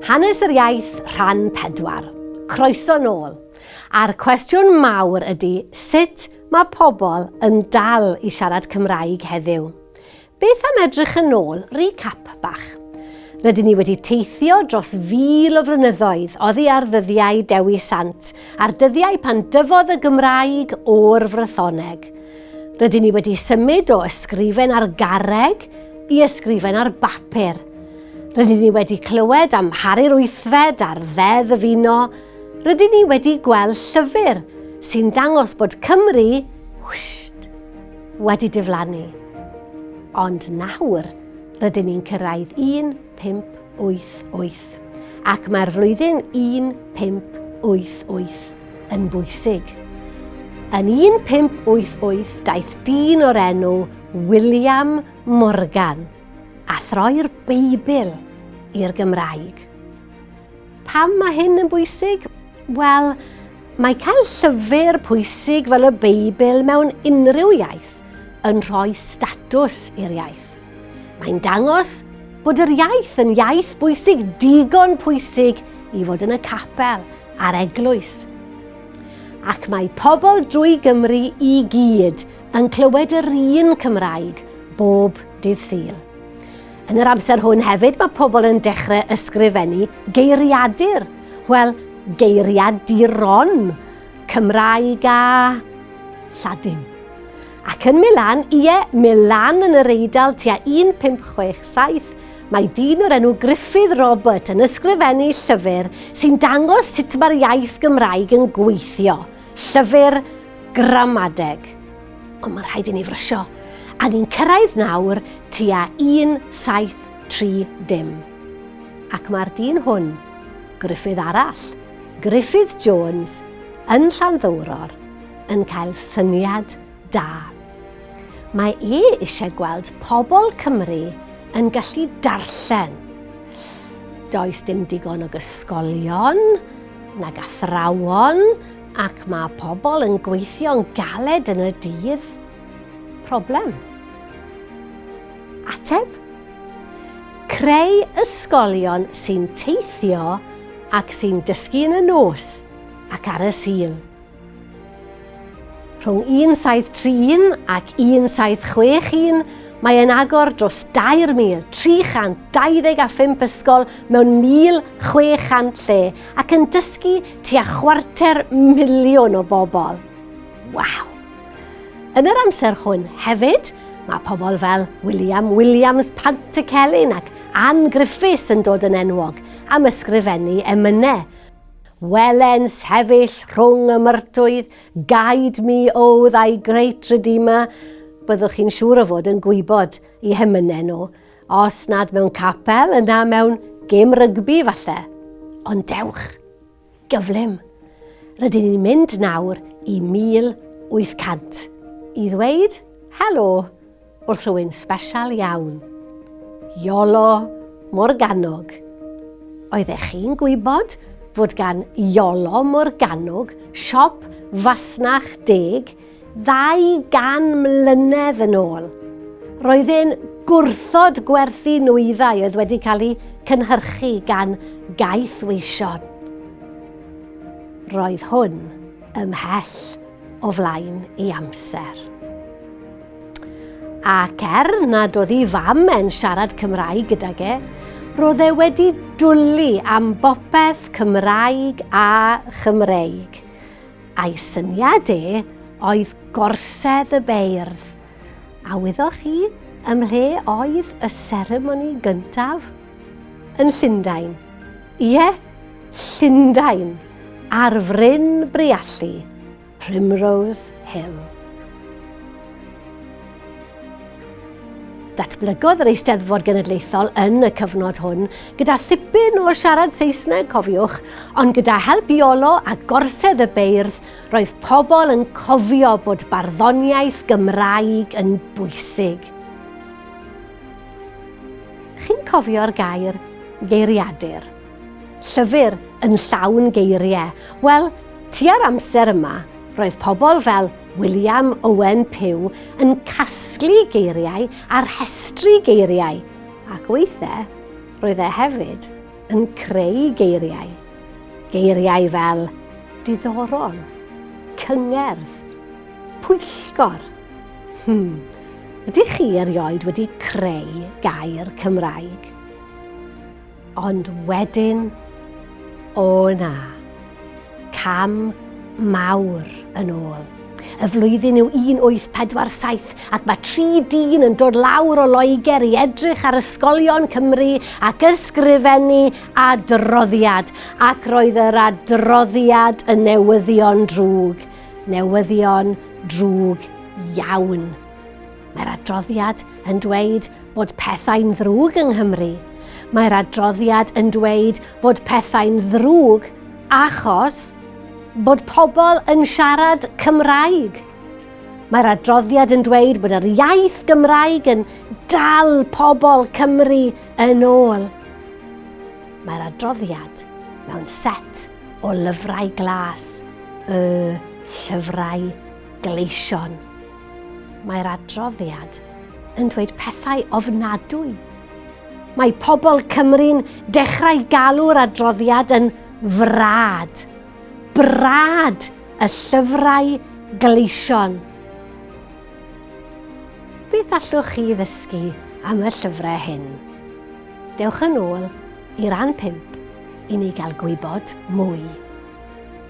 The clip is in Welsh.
Hanes yr iaith rhan 4. Croeso nôl. A'r cwestiwn mawr ydy sut mae pobl yn dal i siarad Cymraeg heddiw. Beth am edrych yn ôl, recap bach. Rydyn ni wedi teithio dros fil o flynyddoedd oddi ar ddyddiau Dewi Sant, a'r dyddiau pan dyfodd y Gymraeg o'r Frythoneg. Rydyn ni wedi symud o ysgrifen ar garreg i ysgrifen ar bapur. Rydyn ni wedi clywed am Harri'r Wythfed a'r Ddeddf Uno. Rydyn ni wedi gweld llyfr sy'n dangos bod Cymru whsht, wedi diflannu. Ond nawr, rydyn ni'n cyrraedd 1588. gwaith ac mae'r flwyddyn 1588 yn bwysig. Yn 1588 daeth dyn o'r enw William Morgan a throi'r Beibl i'r Gymraeg. Pam mae hyn yn bwysig? Wel, mae cael llyfr pwysig fel y Beibl mewn unrhyw iaith yn rhoi statws i'r iaith. Mae'n dangos bod yr iaith yn iaith bwysig, digon pwysig i fod yn y capel a'r eglwys. Ac mae pobl drwy Gymru i gyd yn clywed yr un Cymraeg bob dydd Sul. Yn yr amser hwn hefyd mae pobl yn dechrau ysgrifennu geiriadur, wel, geiriaduron, Cymraeg a Lladin. Ac yn Milan, ie, Milan yn yr Eidal tua 1567, mae dyn o'r enw Gruffydd Robert yn ysgrifennu llyfr sy'n dangos sut mae'r iaith Gymraeg yn gweithio, llyfr gramadeg. Ond mae'n rhaid i ni frysio, a ni'n cyrraedd nawr tua 1730. Ac mae'r dyn hwn, Gruffydd arall, Gruffydd Jones, yn Llanddowror, yn cael syniad da. Mae e eisiau gweld pobl Cymru yn gallu darllen. Does dim digon o gysgolion nag athrawon ac mae pobl yn gweithio'n galed yn y dydd. Problem. Ateb? Creu ysgolion sy'n teithio ac sy'n dysgu yn y nos ac ar y Sul. Rhwng 1731 ac 1761, mae e'n agor dros 2,325 ysgol mewn 1,600 lle ac yn dysgu tua chwarter miliwn o bobl. Waw! Yn yr amser hwn hefyd, mae pobl fel William Williams Pantycelyn ac Ann Griffiths yn dod yn enwog am ysgrifennu emynau. Welen sefyll rhwng y myrtoedd, guide me, O thy great Redeemer, byddwch chi'n siŵr o fod yn gwybod i hemynau nhw, os nad mewn capel, yna mewn gêm rygbi falle. Ond dewch, gyflym. Rydyn ni'n mynd nawr i 1800 i ddweud helo. Wrth rhywun sbesial iawn. Iolo Morganwg. Oeddech chi'n gwybod fod gan Iolo Morganwg siop fasnach deg 200 mlynedd yn ôl? Roedd e'n gwrthod gwerthu nwyddau oedd wedi cael eu cynhyrchu gan gaeth weision. Roedd hwn ymhell o flaen ei amser. Ac er nad oedd ei fam e'n siarad Cymraeg gydag e, roedd e wedi dwli am bopeth Cymraeg a Chymreig. A'i syniad e oedd gorsedd y beirdd. A wyddoch chi ym mhle oedd y seremoni gyntaf? Yn Llundain. Ie, Llundain, ar fryn Briallu. Primrose Hill. Datblygodd yr Eisteddfod Genedlaethol yn y cyfnod hwn gyda thipyn o siarad Saesneg, cofiwch, ond gyda help Iolo a gorsedd y beirdd, roedd pobl yn cofio bod barddoniaeth Gymraeg yn bwysig. Chi'n cofio'r gair geiriadur? Llyfr yn llawn geiriau. Wel, tua'r amser yma, roedd pobl fel William Owen Pugh yn casglu geiriau a rhestru geiriau, ac weithiau roedd e hefyd yn creu geiriau. Geiriau fel diddorol, cyngerdd, pwyllgor. Hmm, ydych chi erioed wedi creu gair Cymraeg? Ond wedyn, o na, cam mawr yn ôl. Y flwyddyn yw 1847 ac mae tri dyn yn dod lawr o Loegr i edrych ar ysgolion Cymru ac ysgrifennu adroddiad. Ac roedd yr adroddiad yn newyddion drwg, newyddion drwg iawn. Mae'r adroddiad yn dweud bod pethau'n ddrwg yng Nghymru. Mae'r adroddiad yn dweud bod pethau'n ddrwg achos bod pobl yn siarad Cymraeg. Mae'r adroddiad yn dweud bod yr iaith Gymraeg yn dal pobl Cymru yn ôl. Mae'r adroddiad mewn set o lyfrau glas, y llyfrau gleision. Mae'r adroddiad yn dweud pethau ofnadwy. Mae pobl Cymru'n dechrau galw'r adroddiad yn frad. Brad y llyfrau gleision. Beth allwch chi ddysgu am y llyfrau hyn? Dewch yn ôl i ran 5 i ni gael gwybod mwy.